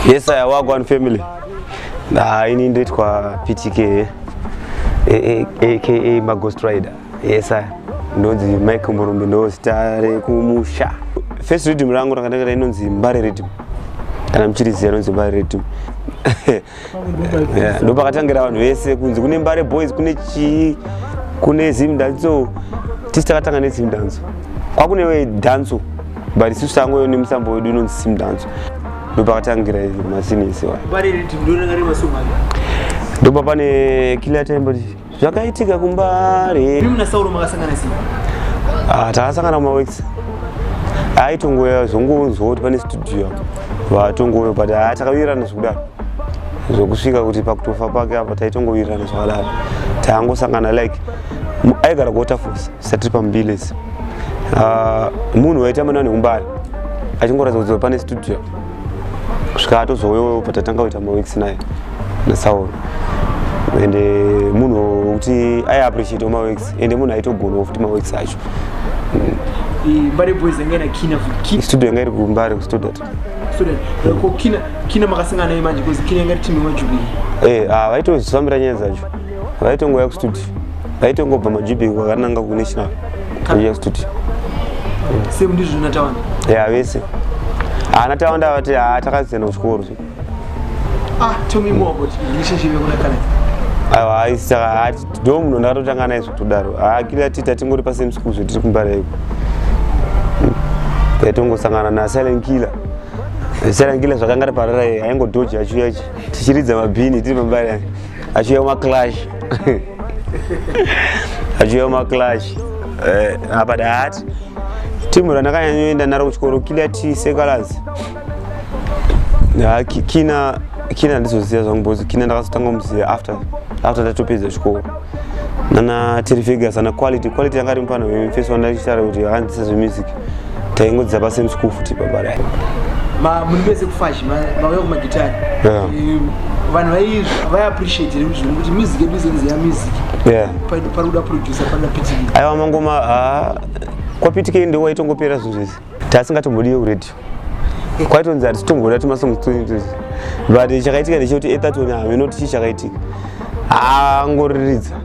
Yes, I work one family. Ah, ini ndoitwa PTK eh, eh, eh, aka Maghost Rider. Yes, sir. Ndonzi Mike Murumbi ndo zita rekumusha. First rhythm rangu rakanakira inonzi Mbare rhythm. Kana mchirizi anonzi Mbare rhythm. yeah, ndopakatangira vanhu vese kunzi kune mbare boys kune chii kune zimdanso tisi takatanga nezimdanso kwakunewe danso but isusu tangoyo nemusambo wedu inonzi simdanso ndopakatangira masinisi ndopapane kila time zvakaitika kumbare imi muna sauro makasangana sei ah, takasangana kumawex aitongouya zvongonzwa kuti pane studio vatongouya but ah, takawirirana zvekudaro zvekusvika kuti pakutofa pake apa taitongowirirana zvakadaro taangosangana like aigara kuwaterfalls satiri pambilesi ah, munhu waita mana neumbari achingoratidza kuti pane studio kusvika atozouyo patatanga kuita maweeks naye nasauro and eh, munhu wekuti ai appreciate maweeks and munhu aitogonawo futi maweeks acho mbare boys yanga ina kina futi studio yanga iri kumbare kustudio kina makasangana naye manje bcause kina yanga iri timu yemajubii eh, ah, vaitozvifambira nyaya dzacho vaitongouya kustudio vaitongobva majubheki kwakananga kunational vaiuya kustudio same ndizvo natawanda ya vese haana tawanda vati haa takasiyana kuchikoro ah, aiwa ndo munhu ndakatotanga naye zvekutodaro akiri ati tatingori pasame school zvetiri kumbara iko taitongosangana nasilent killer silent killer zvakanga riparara aingodhoja achiuya tichiridza mabhini tiri pambari achiuya maclash achiuya maclash eh, apa daati timu randakanyanyoenda naro kuchikoro kila ti sekalazi kina kina ndizoziva zvangu bcause kina ndakazotanga kumuziva after after ndatopedza chikoro nana terifigures ana quality quality yanga rimupano first one ndachitaura kuti akanzisa zvemusic taingodzidza pasame school futi baba rai muri vese kufashi mauya kumagitari vanhu vaiappreciate here zvino kuti music yedu izenzi ya music pari kuda producer pari kudapitikei aiwa mangoma ah, kwapitikei ndiwo waitongopera zvinhu zvese taasingatombodiwe kuradio kwaitonzi hatitongoda tumasongo tuzi but chakaitika ndechekuti etatoni hameno tichi chakaitika angoriridza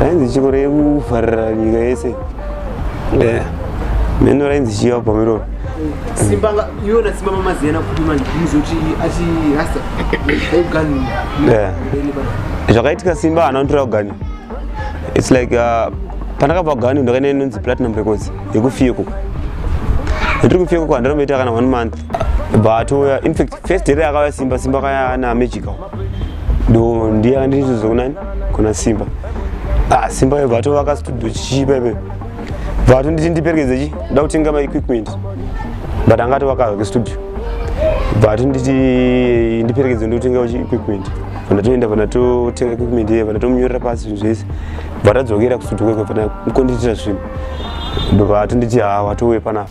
rainzi chiko rekuvharira nyika yese eh, mheno rainzi chiva pamiroro simbanga iwona simba mamaziyana kuti manje muzoti achirasa augani eh. zvakaitika simba haana kutora ugani its like uh, pandakabva ugani ndakaenda inonzi platinum records yekufiyeko ndiri kufiyeko kwa ndaromboita kana one month but uh, infact first day akauya simba simba kaya ana magical ndo ndiye akandiridzidza kunani kuna simba ah, simba iye vatovaka studio chichipa ipepe vato nditi ndiperekedze chi nda kutenga maequipment but anga atovakazake studio vato nditi ndiperekedze ndikutenga equipment vandatoenda vandatotenga equipment iye vandatomunyorera pasi zvinhu zvese vatadzokera kustudio kwekwe vana mukondiitira zvinhu vato nditi ha watouye panapa